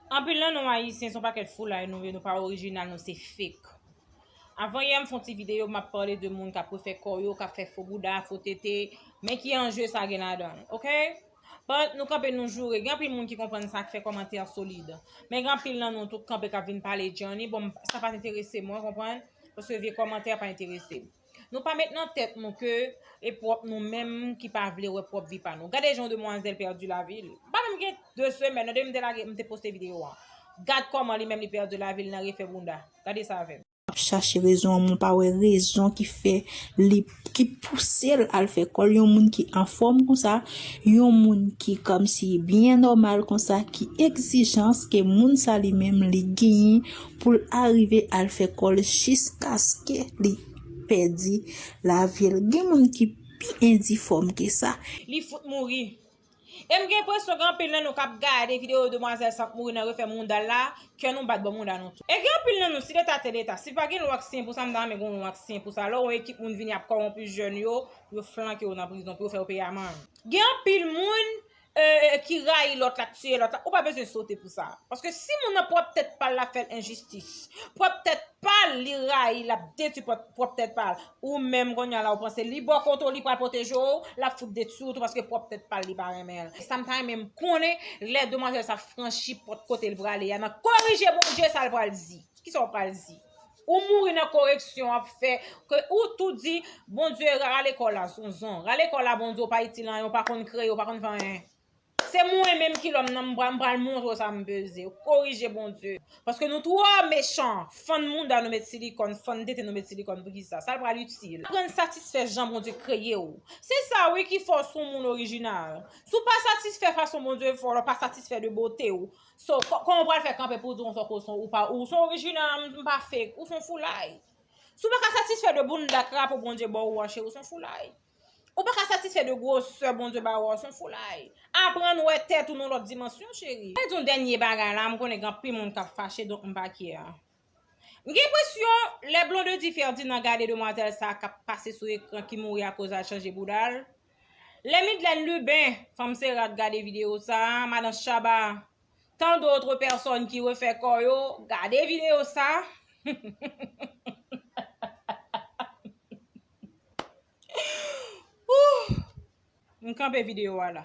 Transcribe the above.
Anpil nan nou ayisyen son pakèt foulay nou ye nou pa orijinal nou se fake Avan yè m fon ti video map pale de moun kap refè kò yo kap fè fo bouda fo tete men ki anje sa gen ladan ok But nou kanpe nou joure gen anpil moun ki konprann sa ki fè kòmantè solid men gen anpil nan nou tou k kanpe kap vin pale djanni bon sa pa enterese mwen konprann paske vye kòmantè pa enterese m. Nou pa met nan tèt nou ke e pwòp nou menm ki pa vle wè pwòp vi pa nou. Gade jan yon demwazèl pèdi lavi l. Li pa menm gen 2 semèn non depi m te lage, m te poste videyo an. Gad kòman li menm li pèdi lavi l nan refè bounda. Gade sa avè m. Ap chache rezon an men w pa wè rezon ki fè li, ki pouse l al fè kòl. Yon moun ki anfòm konsa, yon moun ki kòmsi byen nòmal konsa, ki egzijans ke moun sa li menm li genyen pou l arive al fè kò l jiskaske li pèdi lavi l. Gen moun ki pi endifòm ke sa. Li fout mouri. E m gen enpresyon gen anpil nan nou k ap gade videyo demwazèl sa k mouri nan refè mounda l la, kè nou bat bò mounda nou tou. E gen anpil nan nou, si leta te leta, si pa gen lwa k siyen pou sa, m ta renmen gen yon lwa k siyen pou sa, lò yon ekip moun vini ap kòwonpi jèn yo, pou yo flanke yo nan prizon, pou yo fè yo peye amann. Gen anpil moun, ki rayi lòt la, k tiye lòt la, ou pa bezwen sote pou sa. Paske si moun nan pwòp tèt pa l ap fè l enjistis, pwòp tèt pa l li rayi, l ap detwi pwòp tèt pa l, ou menm kounye a la ou panse li bò kote w li pral pwoteje w, l ap fout detwi w tou paske pwòp tèt pa l li pa renmen l. E sa m ta renmen m konnen, lè demwazèl sa franchi pòt kote l prale a, nan korije Bondye sa l pral di. Kisa w pral di? Ou mouri nan koreksyon wap fè ke ou tou di Bondye rale kò la zonzon rale kò la Bondye ou pa itil anyen ou pa konn kreye ou pa konn fè anyen se mwen menm ki lòm nan m pral montre w sa m peze korije Bondye paske nou twò mechan fann mouda nou met silikòn fann tete nou met silikòn poukisa sa l pral itil aprann satisfè jan Bondye kreye w se sa wi ki fè w son moun orijinal si w pa satisfè fason Bondye fè w lè w pa satisfè de bote w So kòman ou pral fè kanpe pou w di yon fòk ou son ou pa ou son orijinal m pa fake ou son foulay. Si w pa ka satisfè de bounda krapo Bondye ba ou an cheri ou son foulay. Ou pa ka satisfè de gwosè Bondye ba ou an ou son foulay. Aprann wè tèt ou nan yon lòt dimansyon cheri. Mwen di w dènye bagay la m konnen gen anpil moun k ap fache donk m pa care. M gen enpresyon lè Blondedy Ferdinand gade demwazèl sa kap pase sou ekran ki mouri akoz al chanje bouda l, lè Midlène Lubin, fanm Sera t gade videyo sa, madan Shaba, tant d'autres personnes ki refè kò yo, gade videyo sa, huuuhhuuhhuuhh, m kanpe videyo a la.